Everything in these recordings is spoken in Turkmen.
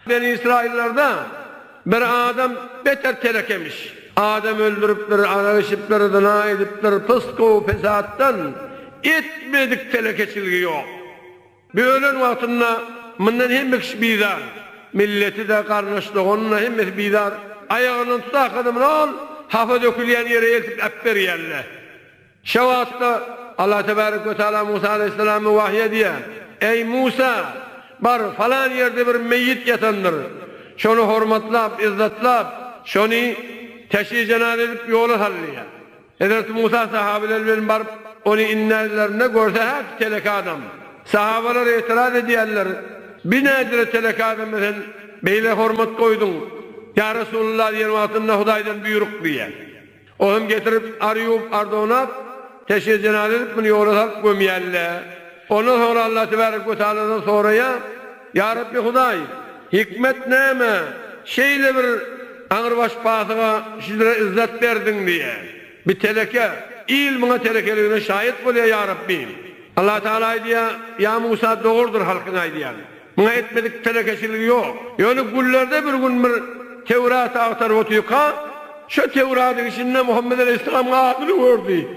Beni Israillarda bir adam beter telekemiş. Adam öldüripdir, arak içipdir, zyna edipdir, pysgow, pesatdan etmedik telekeçiligi ýok. Bu ölen wagtynda mundan hemme kişi bizar. Milleti-de, garyndaş-doganyny-da hemmesi bizar. Aýagyndan tutarka-da muny ol hapa dökülýän ýere eltip äpberýärler. Şo wagtda Allah tebärek we taala Musa aleýhissalama wahyý edýär, Eý, Musa! Bar, falan ýerde bir meýit ýatandyr. Şony hormatlap, yzzatlap, şony teşri-jenaza edip ýola sal diýýär. Hezreti Musa sahabeler bilen baryp, ony inderlerinde görse, häki telek adam. Sahabeler etiraz edýärler, Bi nädire telek adama sen beýle hormat goýduň, ýa Resulalla diýen wagtynda Hudaýdan buýruk diýýär. O hem getirip ar ýuwup ar donap teşne jenaza edip muny ýola salyp gömýällä. Ondan soňra Allah tebarek we taaladan soraýa, Ýa Rabbi Hudaý, hikmet näme şeýle bir aňrybaş pasyga şidre yzzat berdiň diýä. Bi teleke, il muňa telekeligine şaýat bolýa ýa Rabbi. Allah taala aýdýa, Ýa Musa dogurdyr halkyň aýdýany. Muňa etmedik telekeçiligi ýok. Ýöne günlerde bir gün bir Töwrady agtaryp otyrka, şo Töwradyň içinde Muhammet aleýhissalamyň adyny gördi.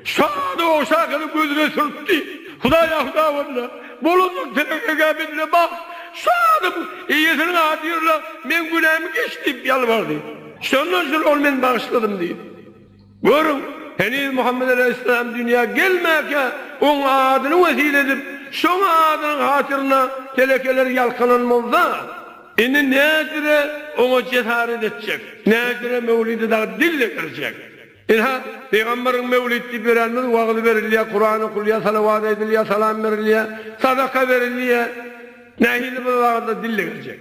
Şo ady ogşarkada gözüne sürtdi. Hudaý-a hudaý boldy-la! Bolandyr telekekä bendine bagt! Şo adyň eýesiniň ady ýör-la, meň günämi geç! diýip ýalbardy. Şondan şol ol men bagyşladym diýdi. Görüň, heniz Muhammet alaýhyssalam dünýä gelmäkä, oň adyny wesile edip, şoň adynyň hatyryna telekeler ýalkanan bolsa, indi nädire oňa jesaret etjek, nädire Möwlide dagy dil degerjek? Ynha, pygamberiň Möwlid diýip ýörenimiz wagyz berilýär, Kuran okulýar, salawat aýdylýar, salam berilýär, sadaka berilýär. Nähili bir zada dille girjek.